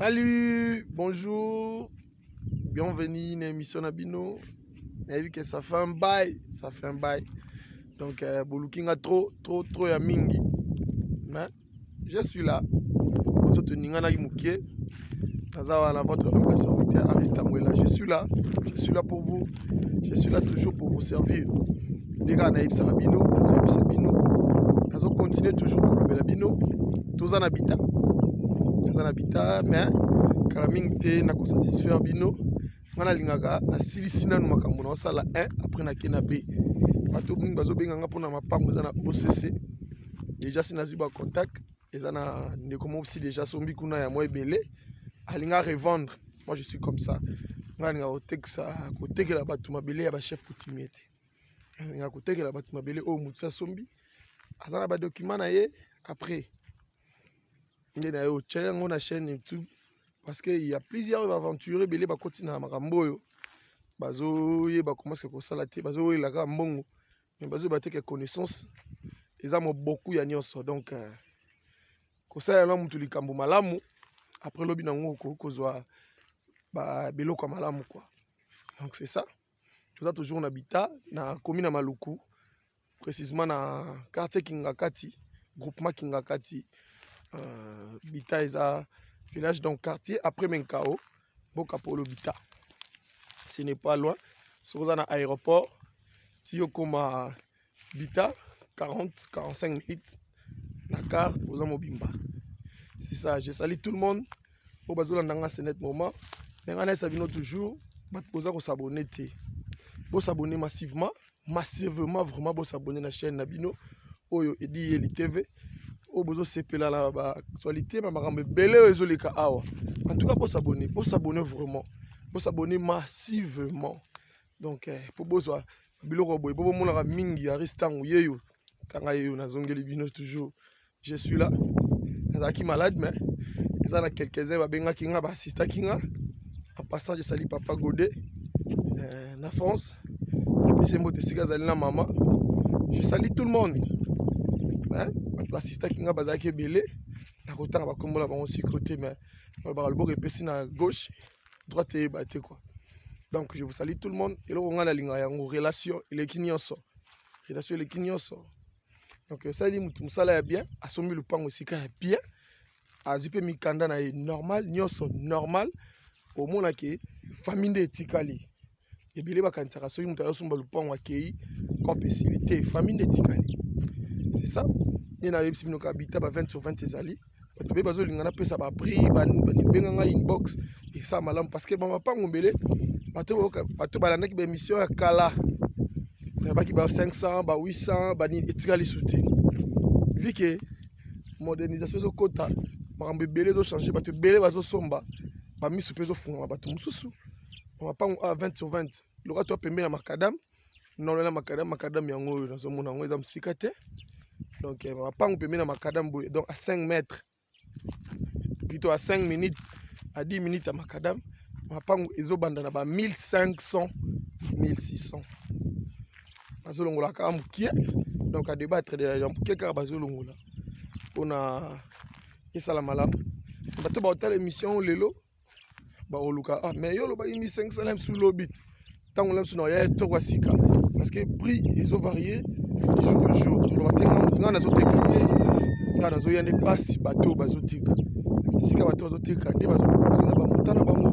Salut, bonjour, bienvenue na émission na bino. Nayebi que ça fait un bail, ça fait un bail. Donc euh, boluki nga trop trop trop ya mingi. Mais je suis là. Ozo toninganaki mukie. Naza wana votre humble serviteur Aristide Mwela. Je suis là. Je suis là pour vous. je suis là toujours pour vous servir nde kaka nayebisaka bino nazoyebisa bino nazocontinue toujours kolobela bino toza na bita naza na bita mais kala mingi te nakosatisfaire bino ngai nalingaka nasilisi nanu makambo naosala 1 après nake na b bato mingi bazobenga nga mpona mapango eza na occ deja si nazwi bacontact eza na ndeko mopsi déjà asombi kuna ya mwa ebele alinga revendre moi je suis comme ça ngai alinga kotekisa kotekela bato mabele ya bachef coutumier te alinga kotekela bato mabele oyo motu asombi aza na badocument na ye après nde na ye otya yango na chaîne youtube parce que ya plusieurs baventure ebele bakoti na makambo oyo bazoyeba komaske kosala te bazowelela kaka mbongo mais bazo ba te que connaissance eza moboku ya nyonso donc euh, kosala na mutu likambo malamu après lobi na ngo okoki kozwa biloko ya malamu quoi donc c'est ça toza toujours na bita na komi na maluku précisement na quartier kingakati groupement kingakati euh, bita eza village donc quartier après menkao mboka polo bita ce n'est pas loin soki oza na aéroport ti okoma bita 40 45 minutes na car oza mobimba c'est ça je sali tout le monde oyo bazolanda nga ce net moment ndenge nayesa bino toujours bato boza kosabone te bosabone massivement massivement vraiment bo s'abonner na chaîne na bino oyo edi yeli tv oyo bozosepela na baactualité ma makambo ebele oyo ezoleka awa en tout cas bosabone bosabone vraiment bosabone massivement donc eh, mpo bozwa biloko boye mpo bomonaka mingi aris ntango yeyo ntanga yeyo nazongeli bino toujours je suis là nazalaki malade mais eza na quelques-uns babengaki nga baassistaki nga en passant je sali papa gode euh, na france apesi mbote esika azali na mama je sali tout le monde mais bato baassistaki nga bazalaki ebele nakotanga bakombola bango siko te mais balobaka loboko epesi na gauche droite eyeba te quoi donc je vous sali tout le monde eloko ngai nalingaka yango relation eleki nyonso relation eleki nyonso donc osali motu mosala ya bien asombi lopango esika ya bien azwi mpe mikanda na ye normal nyonso normal omona ke famille nde etikali ebele bakanisaka soki moto azosomba lopango akei cope esili te famille nde etikali c'est ça nde nayebisi bino kabita ba 20 sur 20 ezali bato be bazolinga napesa baprix babenga ngai inbox esa malamu parce que bamapango mbele bato balandaki baémission ya kala nayebaki ba 500 ba 800 banini etikali su te vi ke modernisation ezokota makambo ebele ezochange bato ebele bazosomba bamiso mpe ezofungama bato mosusu mapango a 20 sur 20 loka to pembe na macadame nolo na makadam makadam yango oyo nazomona yango eza mosika te donc eh, mapangu pembe na makadam boye donc a 5 mètre plutôt a 5 minutes a 10 minutes ya makadam mapangu ezobanda na ba 1500 1600 bazolongola kaka mokie donc a debattre de ya mokie kaka bazolongola mpona esala malamu bato baotala émission lelo bakoluka ah, mais yo olobaki 1500 na bisu lobi te ntango na bisu na yaya toko ya sika parce que prix ezo varie jour de jour oloba te ngai nazoteka te ngai nazoya nde mpasi bato bazotika esika bato bazotika nde bazokokosa na bamota na bango